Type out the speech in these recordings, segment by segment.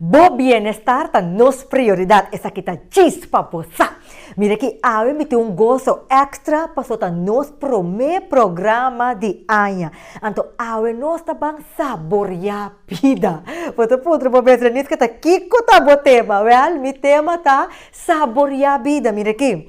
Bo bienestar ta nos prioridad, esaki ta djis pa bo sa! Mira aki, awe mi tin un goso extra paso ta nos prome programa di aña. Anto awe nos ta ban saboria bida! Bo ta puntra bo mes, Reniska ta kiko ta bo tema? Wel, mi tema ta saboria bida. Mira aki.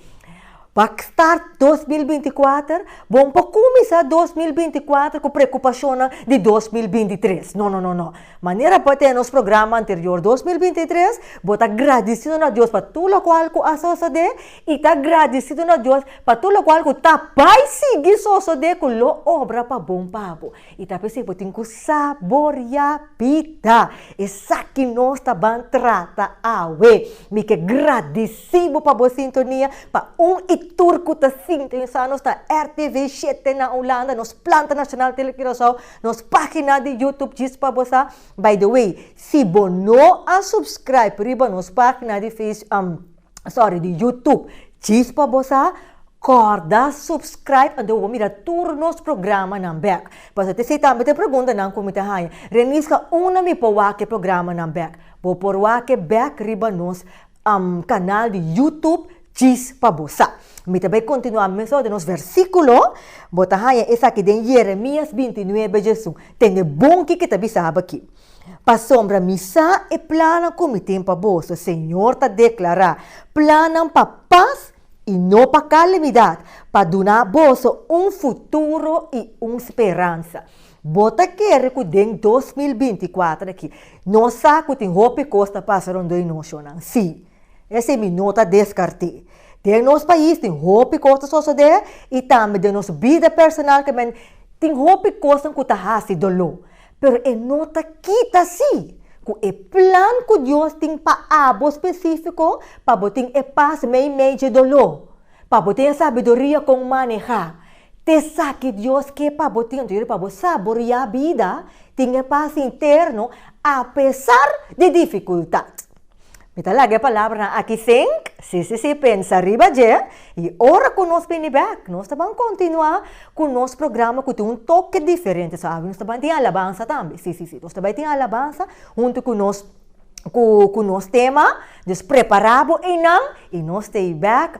Pa start dos mil binti kuater? Bon pa kuminsá dos mil binti kuater ku preokupashonnan di dos mil binti tres? No, no, no, no. Manera bo a tene nos programa anterior dos mil binti tres, bo ta gradisidu na Dios pa tur lokual ku a sosodé i ta gradisidu na Dios pa tur lokual ku ta bai sigui sosodé ku lo obra pa bon pa bo. Y ta p'esei bo tin cu saboria pita. Esaki nos ta ban trata awe. Mi ke gradici bo pa bo sintonia. Pa un y tur cu ta sintonisa nos ta RTV shete na Ulanda, nos planta nacional Tele Curacao, nos pagina di YouTube Djis pa bo sa. By the way, si bo no a subscribe riba nos pagina di Face. sorry di YouTube Chispa Bo Sa Corda Subscribe anto bo por mira tur nos programanan bek pasobra ta esei tambe ta e preguntanan ku mi ta haña Reniska unda mi por wak e programanan bek? Bo por wak e bek riba nos kanal di YouTube Chispa Bo Sa mi ta bai kontinuá mesora di nos versíkulo bo ta haña esaki den Yeremias binti nuebe dje esun tende bon ki ke ta bisaba ki. Pasobra mi sa e plannan ku mi tin pa boso, señor ta deklará, plannan pa pas i no pa kalamidat, pa duna boso un futuro i un speransa. Bo ta kere ku den dos mil binti kuater aki nos sa ku tin hopi kos ta pasa rondó e nocionnan? Sí. Esei mi no ta deskart'é. Den nos pais tin hopi kos ta sosodé i tambe den nos bida personal tambe tin hopi kosnan ku ta hasi doló. Pero e no ta kita así cu e plan cu Dios tin pa abo specifico pa bo tin e paz meimei dje doló, pa bo tin e sabiduria con maneha t'esaki Dios ke pa bo tin anto yori pa bo saborea bida, tin e paz interno apesar di dificultad. Mi ta laga e palabranan aki think, sí sí sí, pensa riba dje, i ora ku nos bini bèk, nos ta ban kontinuá ku nos programa ku tin un toke diferente. So nos ta ban tin alabansa tambe, sí sí sí, nos ta bai tin alabansa huntu ku nos ku ku nos tema, dus prepará bo einan i nos ta e bèk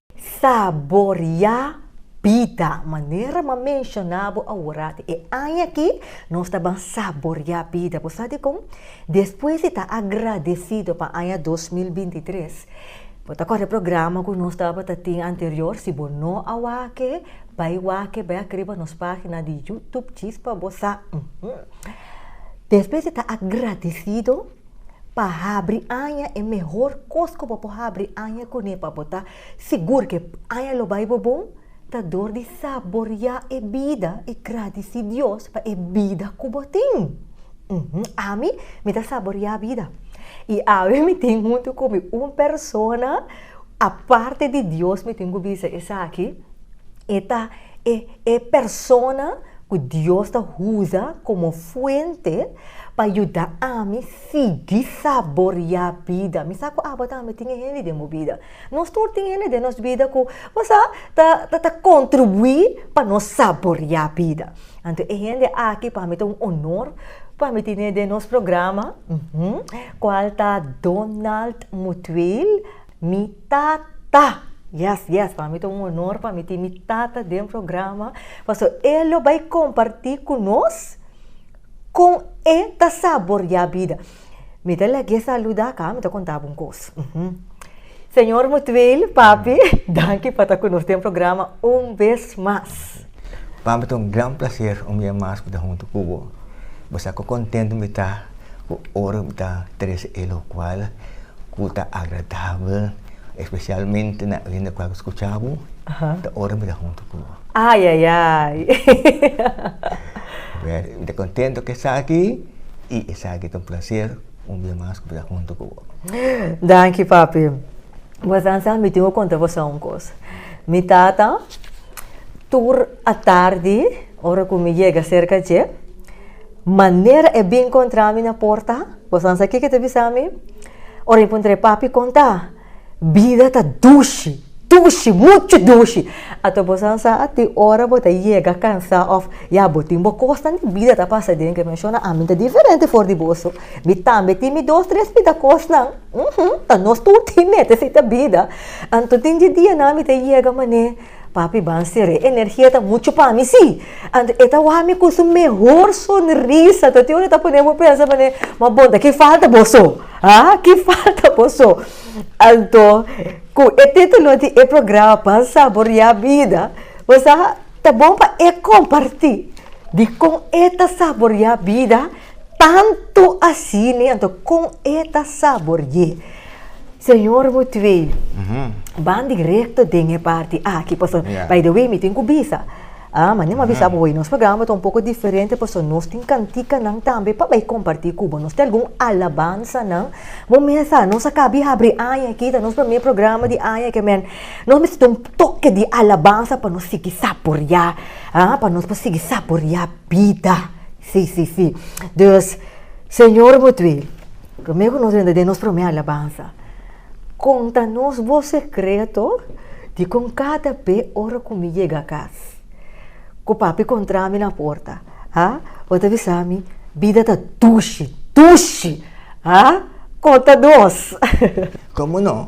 Saboria bida. Manera m'a menshoná bo awor aki, e aña aki nos ta ban saboria bida. Bo sa dikon? Despues di ta agradesido pa aña dos mil binti tres, bo ta akorda e programa ku nos tabata tin anterior? Si bo no a wak-e, bai wak-e, bai a kriba nos página di YouTube, djis pa bo sa. Despues di ta agradesido. Pa habri aña e mehor kos ku bo por habri aña kuné pa bo ta sigur ku e aña lo bai bo bon, ta dor di saboriá e bida i gradisí Dios pa e bida ku bo tin. Ami, mi ta saboriá bida. I awe mi tin huntu ku mi un persona aparte di Dios, mi tin ku bisa esaki, e ta e persona ku Dios ta usa komo fuente. Pa yuda ami sigui saboriá bida. Mi sa ku abo tambe tin e hende den bo bida. Nos tur tin hende den nos bida ku bo sa ta kontribuí pa nos saboriá bida. Anto e hende aki pa mi ta un onor pa mi tene den nos programa, kual ta Donald Mutwiel, mi tata. Yes, yes, pa mi ta un onor pa mi tin mi tata den programa, pasobra e lo bai kompartí ku nos. Kon e ta saboreá bida. Mi ta lek e saludá aká, mi ta kontá bo un kos. Señor Mutueel, papi, danki pa ta ku nos den programa un bes mas. Papi, ta un gran plaser un bia mas bita huntu ku bo. Bo sa ku kontentu mi ta ku ora mi ta trese e lokual ku ta agradabel, espesialmente na oriente ku a skuchá bo, ta ora mi ta huntu ku bo. Ay ay ay. Meri, mi ta contento cu esaki y esaki ta un placer un bia mas cu bira hunto cu bo. Danki papi. Bo san sa mi tin cu conta bo sa un cos. Mi tata tur atardi ora cu mi yega cerca dje manera e bin contra mi na porta bo san sa kico e ta bisa mi? Ora mi puntra e papi conta. Bida ta dushi, dushi, muchu dushi. Ato bo san sa tin ora bo ta yega kansa of ya bo tin bo kosnan di bida ta pasa den ke menshona. Ami ta diferente for di boso. Mi tambe tin mi dos tres bida kosnan. Uhumm, ta nos tur tin mete si ta bida. Anto tin di dianan mi ta yega manera. Papi ban sere energia ta mucho pa mi si. Anto e ta wak mi ku su mehor sonrisa. Toti ora e ta pone bo pensa manera, ma bon ta ki falta boso? Haa ki falta boso? Anto ku e titulo di e programa Pan Saborea Bida, bo sa ta bon pa e komparti dikon e ta saborea bida. Tantu asini anto kon e ta saborié. Señor Mutwee, ban direkto den e parti aki paso, by the way mi tin ku bisa, a manera mi a bisa bo hoy nos programa ta un poko diferente paso nos tin kantikanan tambe pa bai kompartí ku bo. Nos tin algun alabansanan, bo mes sa nos a kabi habri aña aki, ta nos promé programa di aña aki men nos mester tin un toke di alabansa pa nos sigui saboriá, a pa nos por sigui saboriá bida. Sí, sí, sí. Dus, Señor bo tui, promé ku nos wenda den nos promé alabansa, kon ta nos bo sekreto di kon kada be ora ku mi yega kas, ku papi kontrá mi na porta, a, bo ta bisa mi, Bida ta dushi, dushi! A, konta nos. Komo no?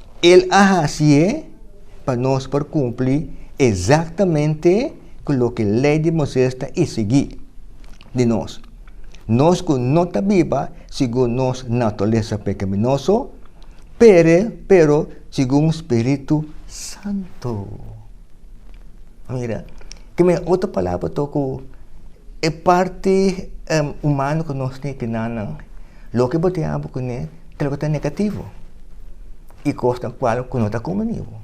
El a hasi e pa nos por cumpli exactamente cu loke Ley di Moises ta isigi di nos. Nos cu no ta biba segun nos naturalesa pecaminoso, pere, pero segun Spiritu Santo. Mira. Keme na otro palabra to ku e parti humano ku nos tin kina nan loke bo tin abo kuné ta loke ta negativo i kos na kual ku no ta komunibo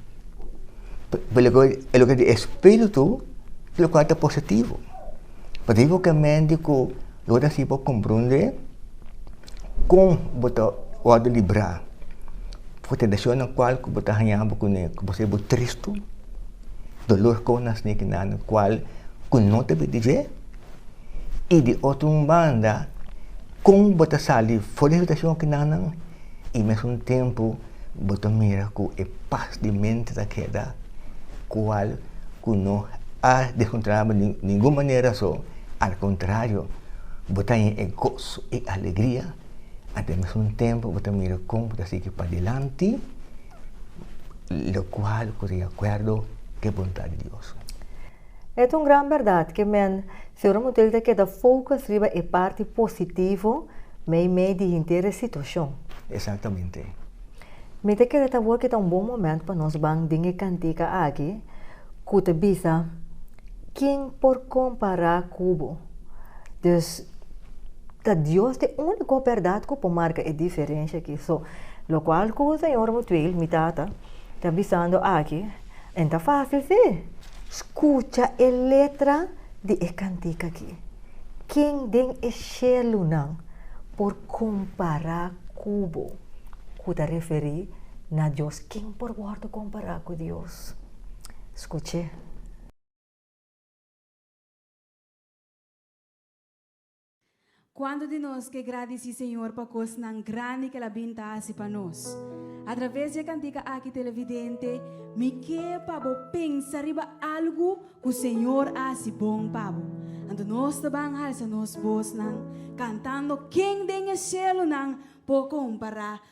e loke di espiritu lo kual ta positivo pasobra ku lo ta hasi bo komprondé kon bo ta wòrdu librá ku tentashon nan kual ku bo ta haña bo kuné ku bo ser bo tristu Dolor con na sneaky nan cual cu no ta bidi dje y di otro un banda con bo ta sali for di habitacion aki nan nan y mes un tempo bo ta mira cu e paz di mente ta keda cual cu no a descontrolaba di ningun manera so al contrario bo ta hen e gozo y alegria anto mes un tempo bo ta mira con bo ta sigui padilanti. lo cual cu di acuerdo cu e bondad di Dios. E ta un gran berdad cu men siempre bo tin ta keda focus riba e parti positivo meimei di henter e situacion. Exactamente. Mi ta kere ta awor cu ta un bon moment pa nos ban den e cantica aki cu ta bisa, Kin por compara cu bo? Dus, ta Dios t'e unico berdad cu por marca e diferencia aki. So, locual cu Señor Mutuel, mi tata, ta bisando aki, e n'ta facil si. Scucha e letra di e cantica aki. Kin den e shelunan por compara cu bo? Cu ta referi na Dios. Kin por wordo compara cu Dios? Skuché. Kuantu di nos ke gradisí Señor pa kosnan grandi ke El a bin ta hasi pa nos? A traves di e kantika aki, televidente, mi ke pa bo pensa riba algu ku Señor a hasi bon pa bo. Anto nos ta ban halsa nos bosnan kantando, Ken den e sielunan por kompará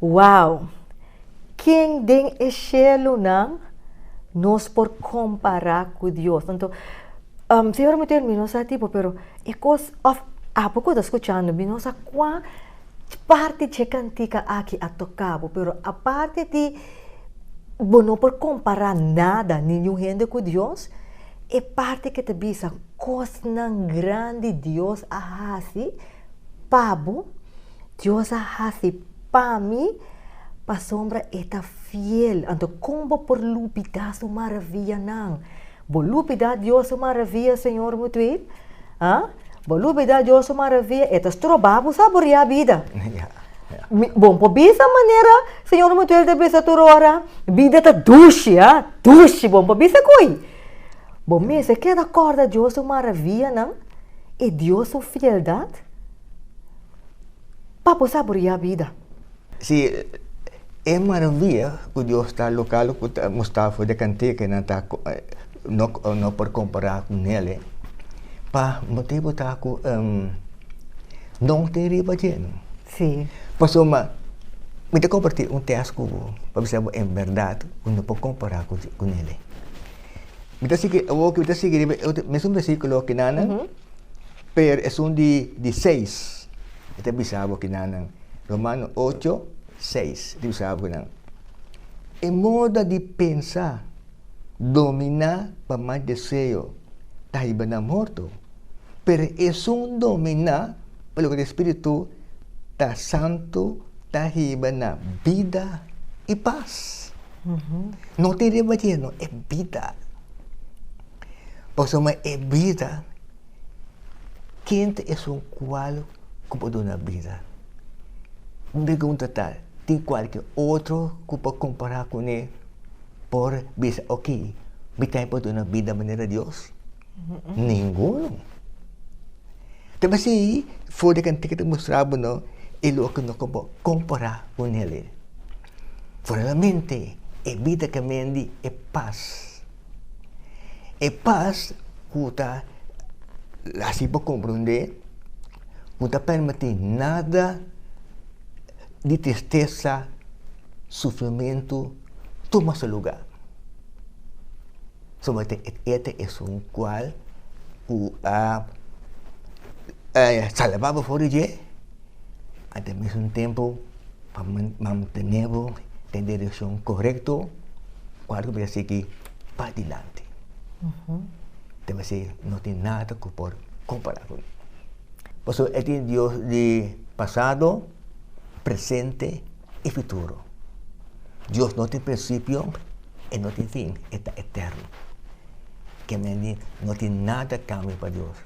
Wow! Ken den e shelunan nos por kompará ku Dios? Anto, um, si ora mi termi, nos a tipo, pero e kos, òf apo ku ta skuchando mi, nos a kuan parti dje kantika aki a toka bo, pero aparte di bo no por kompará nada, ningún hende ku Dios, e parti ku ta bisa kosnan grandi Dios a hasi pa bo, Dios a hasi pa mi pasobra e ta fiel. Anto kon bo por lubidá su maravianan? Bo lubidá Dios su maravia, Señor Mutwe? A? Bo lubidá Dios su maravia? E ta strobá bo saboriá bida. Bo por bisa manera Señor Mutwe ta bisa tur ora, Bida ta dushi, a? Dushi. Bo por bisa ko'i? Bo mester keda kòrda Dios su maravianan i Dios su fieldat? pa bo saboriá bida. Si e maravia ku Dios ta loka lo ku ta mostrá for di e kantekenan ta no por kompará ku Nele, pa motibu ta ku don tin riba dje no. Si. Pasobra mi ta kompartí un tèst ku bo pa bisa bo en bèrdat bo no por kompará ku Nele. Mi ta sigui awor ku mi ta sigui riba e mesun bersikulo kinan. Per esun di di seis, e ta bisa bo kinan nan, Romano ocho, seis, e ta bisa bo kinan, e moda di pensa dominá pa mas deseo ta haiba nan morto, pero esun dominá pa loke di spiritu ta santu ta haiba nan bida i pas. No tin riba djé no, e bida. Pasobra e bida. Ken ta esun kual ku por duna bida? Un pregunta ta, Tin kualke otro ku por kompará kuné por bisa, Oke, mi tambe por duna bida manera Dios? Ninguno. Ta mester for di kantika ta mustrá bo no e loke no por kompará ku nel. Foralmente e bida kemendi e pas. E pas ku ta hasi bo komprondé ku no ta permití nada di tristesa, sufrimentu tuma su lugá. Solamente e ta esun kual ku a salvá bo for di dje. Ate mesun tempu pa mantene bo den direkshon korekto ku algu mester sigui padilanti. Ta mester no tin nada ku por kompará ku e. Pasobra e tin Dios di pasado, presente i futuro. Dios no tin prinsipio, e no tin fin, e ta eterno. Ke men di no tin nada kambia pa Dios.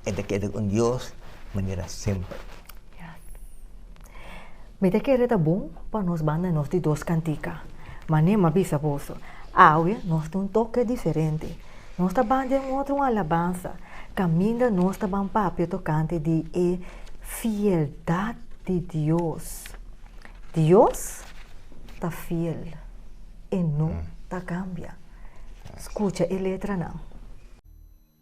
E ta keda un Dios manera semper. Mi ta kere ta bon pa nos banda nos di dos kantika. Mane m'a bisa boso, awe nos ta un toke diferente. Nos ta ban den otro un alabansa kaminda nos ta ban papia tokante di e fieldat di Dios. Dios ta fiel, e no ta kambia. Skucha e letranan.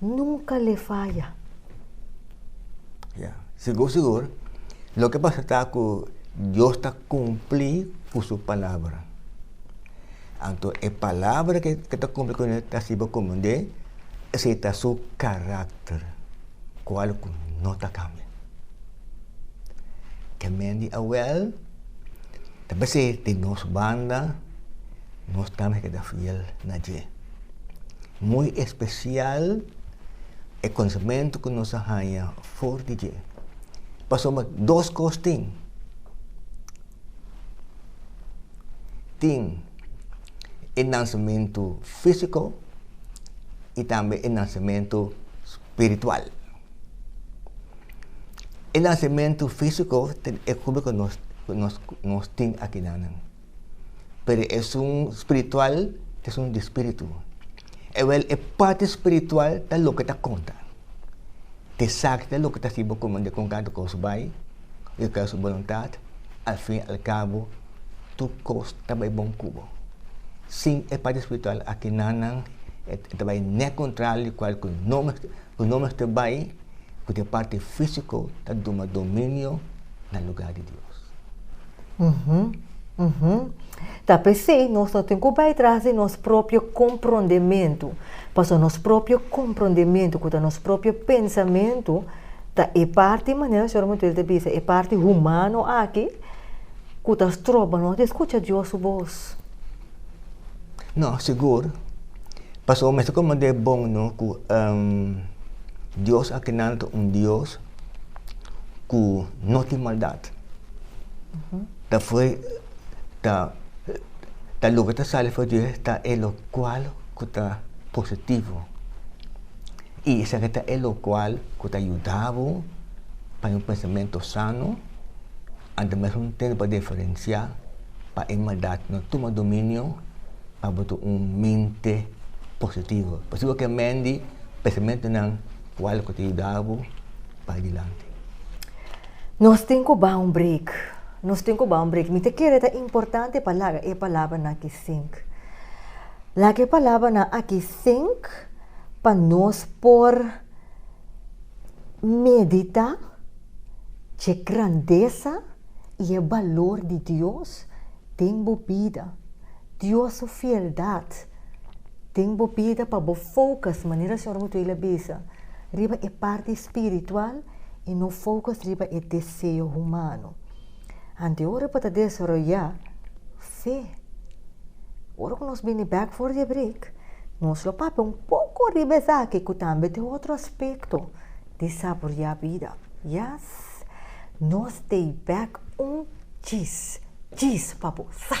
nunka le faya. Ya, sigur sigur, loke pasa ta ku Dios ta kumpli ku su palabra. Anto e palabra ke ta kumpli ku e ta sibi komand'é, esei ta su karakter, kual ku no ta kambia. Te men di awèl, ta p'esei di nos banda, nos tambe keda fiel na dje. Muy especial e conocimento cu nos a haya for di dje. Pasobra dos cos tin. Tin e nacimento fisico y tambe e nacimento spiritual. E nacimento fisico ta e hopi cu nos tin akinan. pero esun spiritual esun di spiritu. Ewel e parti spiritual ta loke ta konta. Te sak ta loke ta si bo komende kon kanta kos bai, yo ka su boluntat, al fin al kabo tur kos ta bai bon ku bo. Sin e parti spiritual a kina nan e ta bai nèt kontralio kual ku no mester ku no mester bai. ku den parti físiko ta duma dominio na lugá di Dios. Ta p'esei nos no tin ku bai tras di nos propio komprondementu, pasobra nos propio komprondementu, ku ta nos propio pensamentu, ta e parti, manera señor Mutuel ta bisa, e parti humano aki ku ta stroba nos di skucha Dios su bos. No, sigur. Pasobra mester komand'é bon no ku Dios a kenal ta un Dios ku no tin maldat. Ta fo'i ta loke ta sali for di e ta e lokual ku ta positivo. I esaki ta e lokual ku ta yuda bo pa paña un pensamentu sano. Anto mes un tende pa diferensiá pa e maldat no tuma dominio pa bo ta un mente positivo. Por eso bo ke mendi pensamentonan kual ku ta yuda bo pa dilanti. Nos tin ku baha un break. Nos tin ku baha un break. Mi ta kere ta importante pa laga e palabranan aki sink. Laga e palabranan aki sink pa nos por. Meditá dje grandesa i e balor di Dios den bo bida. Dios su fieldat den bo bida pa bo focus, manera Señor Mutuel a bisa, riba e parti spiritual i no focus riba e deseo humano. Anto ora pa ta desaroyá fe? Ora ku nos bini bèk for di e brik, nos lo papia un poko riba esaki ku tambe ta e otro aspekto di saboriá bida. Yas, nos ta e bèk un djis, djis pa bo, sa!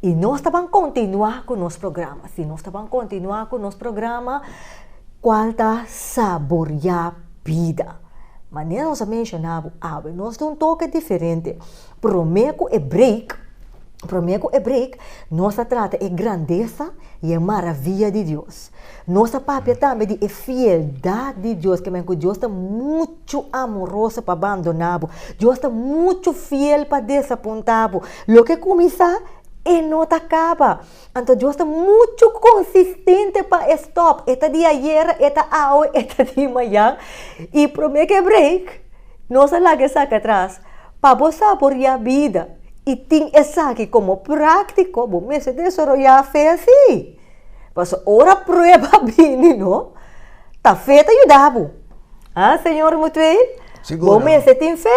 Y nos ta ban continua cu nos programa. Si nos ta ban continua cu nos programa, cual ta Saborea Bida. Manera nos a menciona bo awe, nos ta un toke diferente. Prome cu e break, prome cu e break, nos ta trata e grandeza y e maravilla di Dios. Nos ta papia tambe di e fieldad di Dios, ke men cu Dios ta mucho. muchu amoroso pa bandona bo. Dios ta muchu fiel pa desapunta bo. Loke kuminsá, e no ta kaba. Anto Dios ta muchu konsistente pa e stòp. E ta di ayera, e ta awe, e ta di mañan. I promé ku e breik, nos a laga esaki atras. Pa bo saboriá bida i tin esaki komo práktiko, bo mester desaroyá fe así. Paso ora prueba a bini no, ta fe ta yuda bo. Ha, señor Mutuel? Seguro. Bo mester tin fe.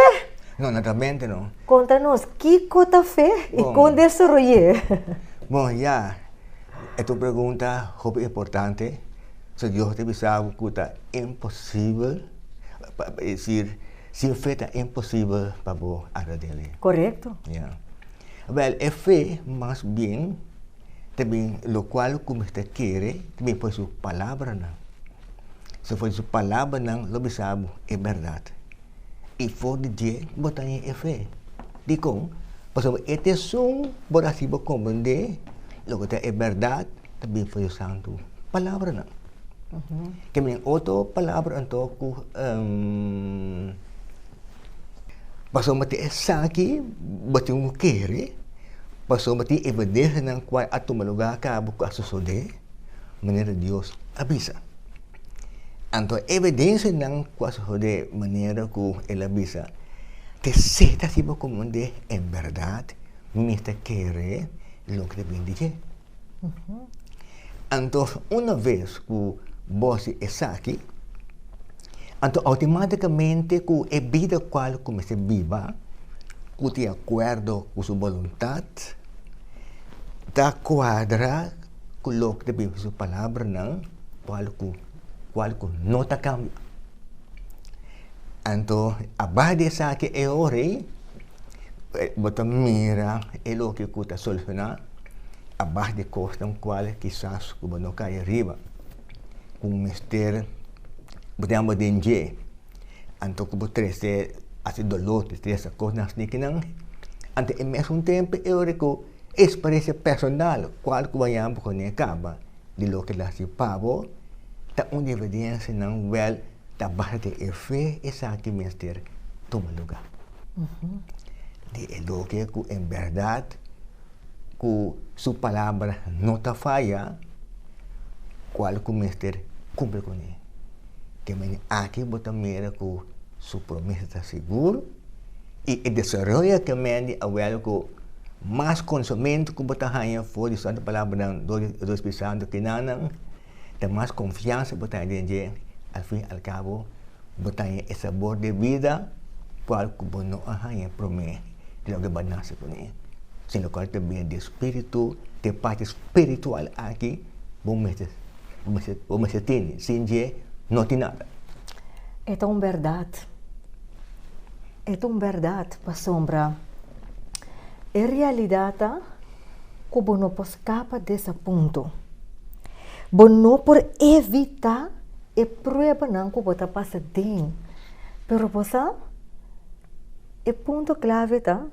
No, no ta mente no. Conta nos, kico ta fe y Bon. con desaroy'é? Bon, ya. E ta un pregunta hopi importante. So Dios ta bisa bo cu ta imposible, pa e decir, sin fe ta imposible pa bo agrad'é. Correcto. Ya. Wel, e fe mas bien. ta bin lokual ku mi ta kere, ta bin for di su palabranan. Si for di su palabranan, lo bisa bo, e bèrdat. I for di dje, bo ta hasi e fe. Dikon? Pasobra e ta esun bo a hasi bo komprendé loke ta e bèrdat ta bin for di su santu palabranan. Te bin otro palabra anto ku Pasobra ta esaki bo tin un kere, pasobra tin evidensianan kua a tuma lugá kabu ku a sosodé manera Dios a bisa. Anto e evidensianan ku a sosodé manera ku el a bisa ta esaki bo komo un di e berdat mi ta kere loke ta bin di dje. Anto una ves ku bo hasi esaki, anto outimàtikamente ku e bida kual ku mester biba, ku tin akuerdo ku su boluntat, ta kuadra ku loke ta bin su palabranan, kual ku kual ku no ta kambia. Anto, aba di esaki e ora ei. bo ta mira e loke ku ta solusioná abas di kosnan kual kisas ku bo no kai riba, ku mester bo tin ánimo den dje. Anto ku bo trese hasi doló, tristesa, kosnan asina kinan, anto e mesun tempu e ora ku e eksperensia personal kual ku bo a yama bo kuné kaba di loke bo a hasi pa bo, ta un evidensia nan wèl ta basa den e fe esaki mester tuma lugá. di e loke ku en bèrdat ku su palabra no ta faya, kual ku mester kumpli ku mi. Te mene aki bo ta mira ku su promes ta sigur i e desaroyo te mende awor ku mas konosementu ku bo ta haña for di santu palabranan dor di Espiritu Santu kinan nan te mas konfiansa bo ta haña den dje, al fin al kabo bo ta haña e sabor de bida kual ku bo no a haña promé di loke bo a nase kuné, si lokal ta bini di e spiritu, di e parti spiritual aki bo mester bo mester tene, sin dje no tin nada. E ta un bèrdat, e ta un bèrdat pasobra e realidat ta. ku bo no por skapa di esa punto. Bo no por evitá e pruebanan ku bo ta pasa den. Pero bo sa, e punto klave ta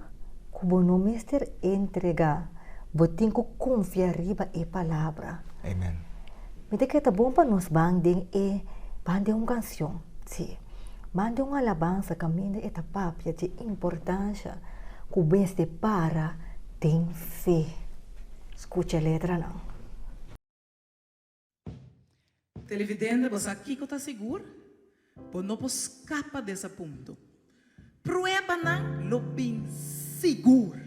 ku bo no mester entregá, bo tin ku konfia riba e palabra. Amen. Mi ta kere ta bon pa nos ban den e ban den un kansion, sí, ban den un alabansa kaminda e ta papia dje importansha ku mester para Tin fe. Scucha e letranan. Televidente, bo sa kico ta sigur? Bo no por scapa des a punto. Pruebanan lo bin sigur!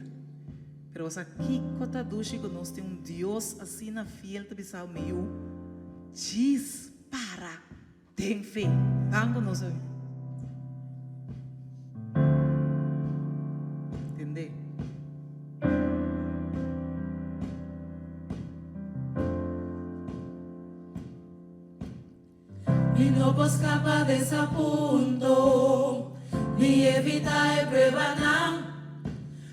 Pero bo sa kico ta dushi cu nos tin un Dios asina fiel ta bisao, Miu, djis para! Den fe. Tan cu nos a. Tende. Mi no por scapa des a punto di evita e pruebanan.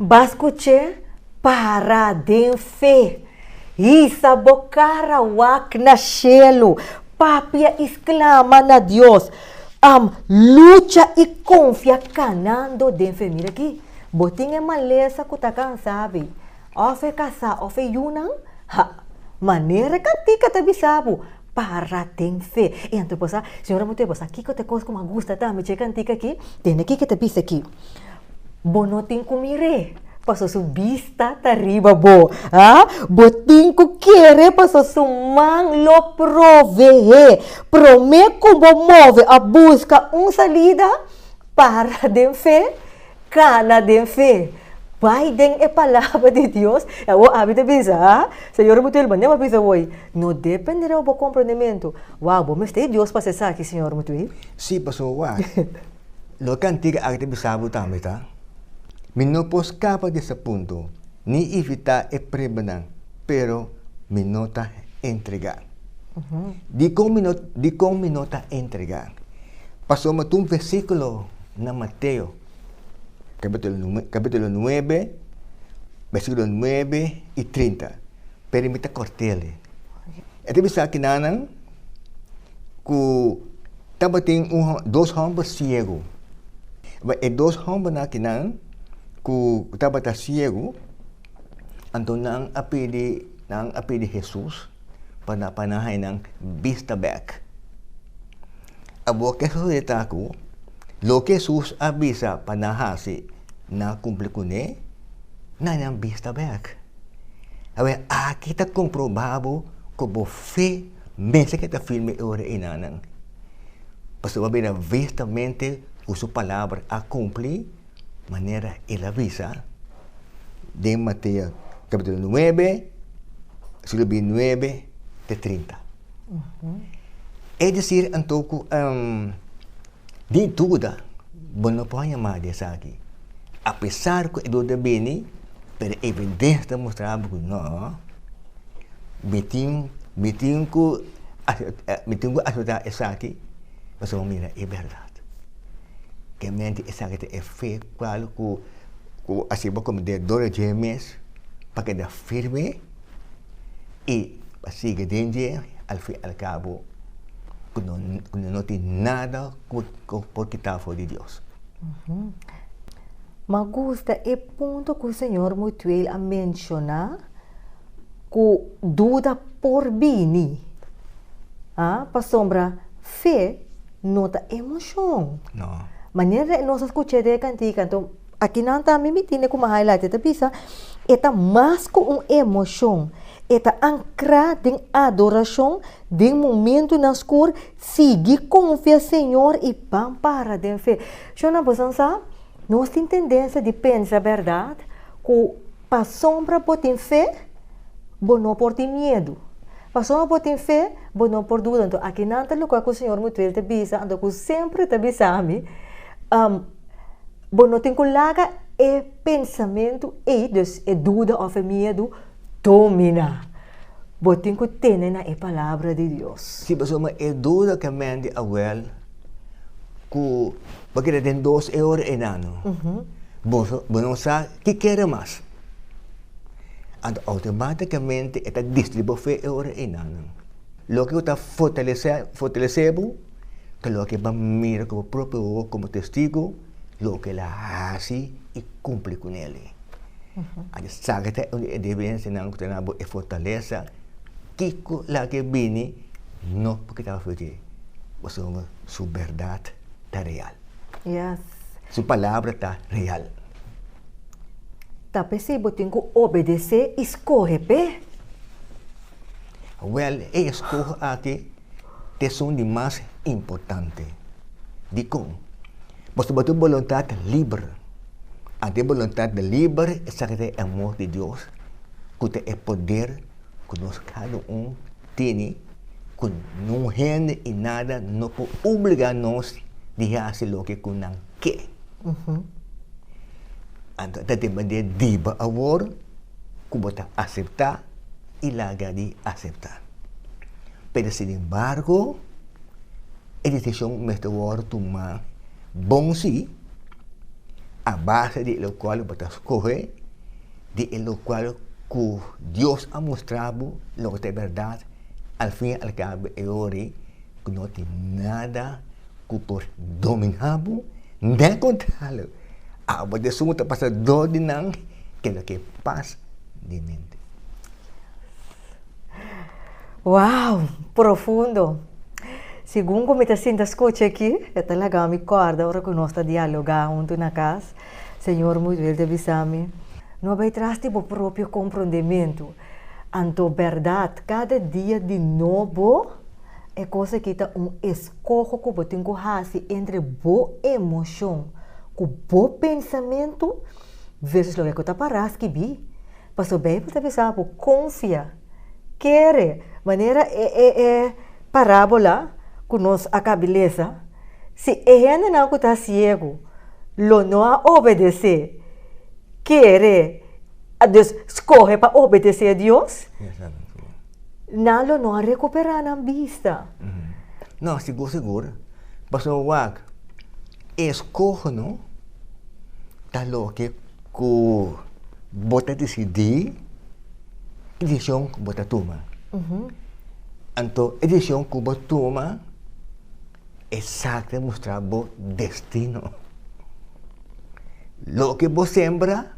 Bá skuch'é, Para den fe! Hisa bo kara, wak na shelu! Papia i sklama na Dios, Am lucha i konfia kanando den fe. Mira akí, bo tin e malesa ku ta kansá ab'é, òf e kasá òf e yunan? Ha! Manera kantika ta bisa bo, Para den fe! I anto bo sa, Señor a mostr'é bo sa kiko ta e kos ku mi a gusta tambe dje kantika akí? Tene ke ke ta bisa akí. Bo no tin ku mir'é, paso su bista ta riba bo. A Bo tin ku kere, paso su man lo prove'é. Promé ku bo move a buska un salida, para den fe, kana den fe. Bai den e palabra di Dios. E awo Abby ta bisa, a Señor a pudi bai manera bo a bisa woi. No depende riba bo komprondementu. Wou, bo mester Dios pa esaki, Señor, mutu e. Sí, paso wak. Lo kantika aki ta bisa bo tambe ta, mi no por skapa di esta punto ni evitá e pruebanan, pero mi no ta entregá. Dikon mi no dikon mi no ta entregá? Pasobra mi ta un versíkulo na Mateo kapítulo kapítulo nuebe, versíkulo nuebe i trinta. Pero mi ta cortel e. E ta bisa kinanan cu tabatin dos homber ciego. E dos hombernan kinan cu tabata ciego, anto nan a pidi, nan a pidi Jesus pa nan, pa nan hainan bista bek. Abo ke sucede ta cu loke Jesus a bisa pa nan haci, nan a cumpli cune. na nan bista bek. Awe, aki ta komprobá bo ku bo fe mester ke ta firme e ora ei nanan. Pasobra bo a bira vistamente ku su palabra a kumplí manera el a bisa den Mateo kapitulo nuebe, vèrsikulo bintinuebe te trinta. Es desir, anto, ku sin duda bo no por haña mas di esaki. Apesar ku e dor ta bini, pero evidensia ta mustra bo ku no, mi tin, mi tin ku mi tin ku acepta esaki pasobra bo mira e bèrdat. Kèmente esaki ta e fe kual ku ku a hasi bo komo den dor dje mes pa keda firme i pa sigui den dje al fin al kabo ku no tin nada ku por kita for di Dios. M'a gusta e punto cu Señor Mutuel a menciona cu duda por bini. Ah, pasobra fe no ta emocion. No. Manera nos a scucha e cantica, anto aki nan ta, mi miti ne kuma highlight, e ta bisa, e ta mas cu un emocion. E ta ancra den adoracion den momentonan scur. Sigui konfia Señor i ban para den fe. Shon nan bosan sa? Nos tin tendensia di pensa, berdad, ku pasobra bo tin fe, bo no por tin miedu. Pasobra bo tin fe, bo no por duda. Anto aki nan ta lugá ku señor Mutuel ta bisa, anto ku semper ta bisa mi, bo no tin ku laga e pensamentu ei, dus e duda òf e miedu, Domina. Bo tin ku tene na e palabra di Dios. Si bo suma e duda ke Mandy a wel ku bo keda den dos e ora enano, bo bo no sa ki kere mas. Anto outomatikamente e ta destrui bo fe e ora enano. Loke ku ta fortalesé fortalesé bo ta loke bo mira ku bo propio ogo komo Testigo. loke el a hasi i kumpli ku nel. A di sa ke ta e debiensianan ku ta na bo e fortalesa, kiko laga ke bini no por kita aflichi e pasobra bo sabi su bèrdat ta real. Su palabra ta real. Ta p'esei bo tin ku obedesé i skohe p'e. Wèl, e eskoho aki ta esun di mas importante. Dikon? Bo tabata un boluntat liber. Anto e boluntat liber esaki ta e amor di Dios ku ta e poder ku nos kada un tene ku ningún hende i nada no por obligá nos di hasi loke ku nan ke. Anto a ta tin bandera diba awor ku bo ta aseptá i laga di aseptá. Pero sinembargo, e desishon mester wòrdu tumá bon sí, a base di lokual bo ta skohe, di e lokual ku Dios a mustrá bo loke ta e bèrdat, alfin i alkabo e hora ei. ku no tin nada ku por dominá bo ne kontralo. Abo ta esun ku ta pasa dor di nan, ke loke pas di mente. Wow! Profundo! Segun ku mi ta sinta skucha aki, e ta laga mi kòrda ora ku nos ta dialogá huntu na kas, señor Muiduel ta bisa mi, No bai tras di bo propio komprondementu. Anto berdad cada dia di nobo e cos aki ta un escoho cu bo tin cu haci entre bo emocion cu bo pensamento versus loke cu ta para skibi. Paso Bijbel ta bisa bo confia, kere, manera e e e parabola cu nos a cabi lesa, si e hendenan cu ta ciego lo no a obedece, kere. a dus skohe pa obedesé Dios, nan lo no a rekuperá nan bista. No, sigur, sigur. Pasobra wak, e skohonan ta loke ku bo ta disidí e desishon ku bo ta tuma. Anto e desishon ku bo tuma, esaki ta mustrá bo destino. Loke bo sembra,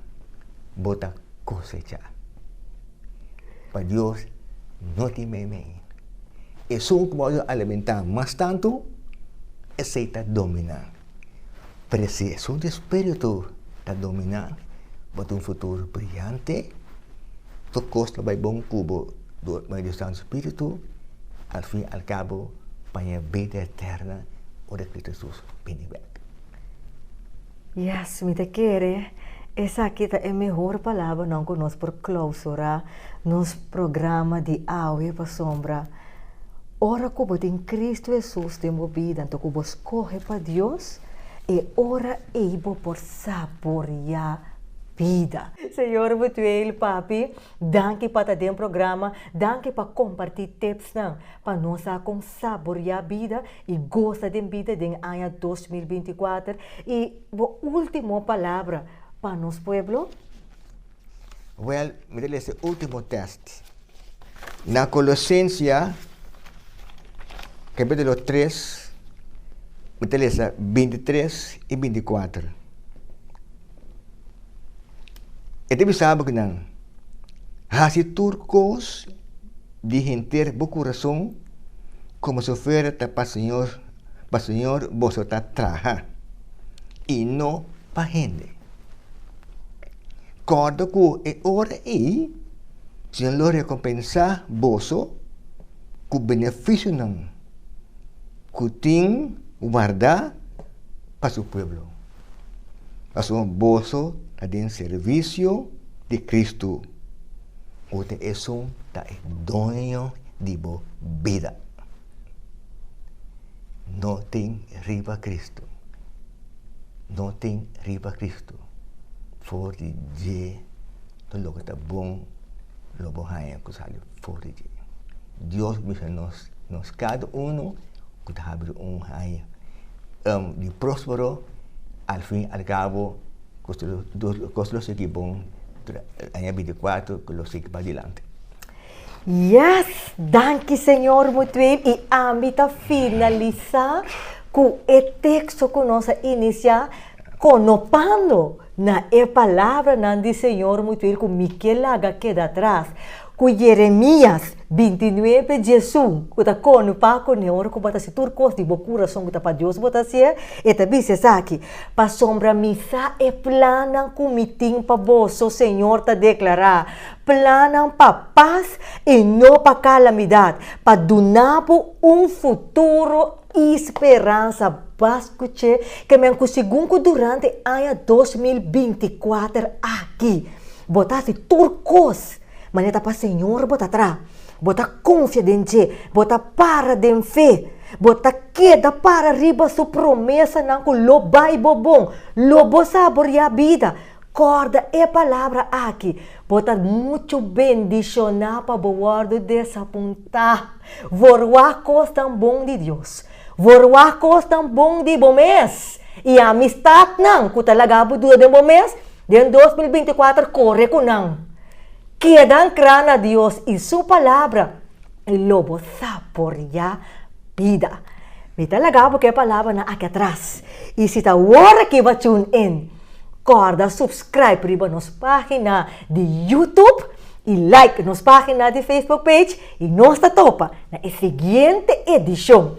bo ta kosechá. Pa Dios no tin meimei. Esun ku bo a alimentá mas tantu, esei ta dominá. Pero si esun di spiritu ta dominá, bo tin un futuro briyante, tur kos lo bai bon ku bo dor medio di Santu Spiritu, alfin alkabo paña e bida eterna ora Kristu Hesus bini bek. Yes, mi ta kere esaki ta e mehor palabranan ku nos por klousura nos programa di awe, pasobra ora ku bo tin Kristu Hesus den bo bida, anto ku bo skohe pa Dios, e ora ei bo por saboreá bida. Señor Bethuel, Papi, danki pa ta den programa, danki pa kompartí tipsnan pa nos a kon saboreá bida. i gosa den bida den aña dos mil binti kuater i bo ultimo palabra pa nos pueblo? Well mi ta lesa e ultimo test na Kolosensia kapitulo tres mi ta lesa binti tres i binti kuater e ta bisa bo ku nan hasi tur kos di henter bo kurason komo su fuera ta pa Señor, pa Señor boso ta traha, i no pa hende. Kòrda ku e ora ei Señor lo rekompensá boso ku benefisionan ku tin warda pa su pueblo. Pasobra boso ta den servisio di Kristu, unda esun ta e doño di bo bida, no tin riba Kristu, no tin riba Kristu. For di dje, tur loke ta bon lo bo haña ku sali for di dje. Dios bisa nos, nos kada unu. ku ta habri un haña di próspero, al fin al kabo kos lo kos lo sigui bon aña binti i kuater ku lo sigui padilanti. Yes! Danki Señor Mutuel i ami ta finalisá ku e teksto ku nos a inisiá Konopando na e palabranan di Señor mi tur ku mi ke laga keda atras, ku Yeremias bintinuebe diesu, ku ta konopá kuné ora ku bo ta hasi tur kos di bo kurason ku ta pa Dios bo ta hasié, e ta bisa esaki, Pasobra mi sa e plannan ku mi tin pa boso, Señor ta deklará, plannan pa pas i no pa kalamidat, pa duna bo un futuro E speransa bas ku che kemen ku segun ku durante aña dos mil binti kuater aki bo ta hasi tur kos manera ta pa Señor bo ta tra, bo ta konfia den dje, bo ta para den fe, bo ta keda para riba su promesanan ku lo bai bo bon, lo bo saboriá bida. Kòrda e palabra aki, Bo ta muchu bendishoná pa bo wòrdu desapuntá. Wòrwá kosnan bon di Dios. Wòrwá kosnan bon di bo mes. I amistatnan ku ta laga bo duda den bo mes, den dos mil binti kuater kore ku nan. Keda ankrá na Dios i Su Palabra. E lobo saboria bida. Mi ta laga bo ke palabranan aki atras. I si ta awor aki bo a tune in, kòrda subscribe riba nos página di YouTube i like nos página di Facebook page. I nos ta topa na e siguiente edishon.